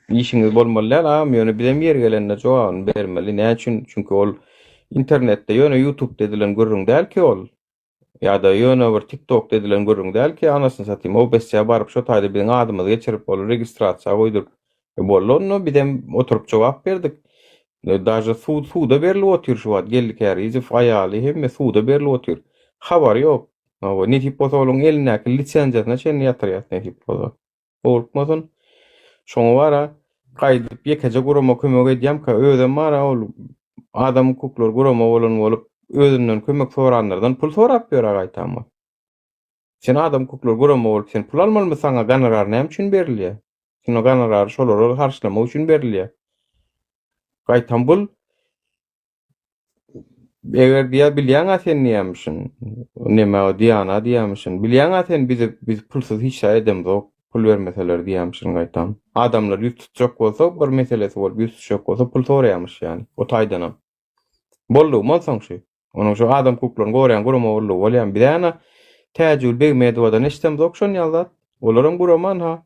Işiňiz bolmaly däl agam ýöne bizem ýeri gelende jogabyny bermeli näme üçin çünki ol internetde ýöne ýutubda edilen gürrüň däl ki ol ýa-da ýöne bir tiktokda edilen gürrüň däl ki anasyny satym obsçä baryp şo taýda biziň adymyzy geçirip ol registrasiýa goýduryp e boldy onda bizem oturyp jogap berdik e daže sud suda berilip otyr şu wagt geldi kärizow aýaly hemme suda berilip otyr habary ýok hawa nesip bolsa olaň elindäki lisenziýasyna çenli ýatyrýas nesip bolsa. Howlukmasyn. Şoňa bara gaýdyp ýekeje gurama kömek edýämka, özem bara ol adam hukuklary gurama bolan bolup, özünden kömek soranlardan pul sorap ýör-ä gaýtam ol. Sen adam hukuklary gurama bolup, sen pul almalymy, saňa gonorar näme üçin berilýär? Sen o gonorary şolara harçlamak üçin berilýär. Gaýtam bul Eger diýýär, bilýäň-ä sen nämişin, näme diýýän-ä diýýämişin. Bilýäň-ä sen bizi biz pulsuz hiç zat edemzok, pul bermeseler diýýämişin gaýtam. Adamlar ýüz tutjak bolsa, bir meselesi bolup ýüz tutjak bolsa pul soraýamyş ýaly, o taýdanam. Boldugym onsoň şu. Onuň şu adam hukuklaryny goraýan gurama boldugy bolýamy? Biz-ä ýa-da Täjigül Begmedowadan eşidemzok şon ýaly zat. Olaram guraman-ha.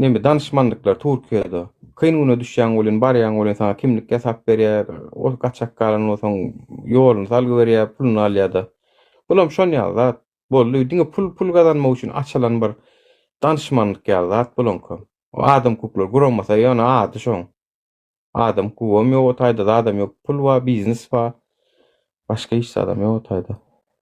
neme danışmanlyklar Türkiýede. Kyn güne düşýän welin, barýan welin sana kimlik ýasap berýär. Ol gaçak galan bolsaň, ýoluny salgy berýär, puluny alýar-da. Bulam şon ýaly zat. Boldy, diňe pul, pul gazanmak üçin açylan bir danışmanlyk ýaly zat bulaňka. O adam hukuklar guramasa ýöne ady şoň. Adam hukugy ýok o taýda, zadam ýok. Pul bar, biznes bar. Başga hiç zadam ýok o taýda.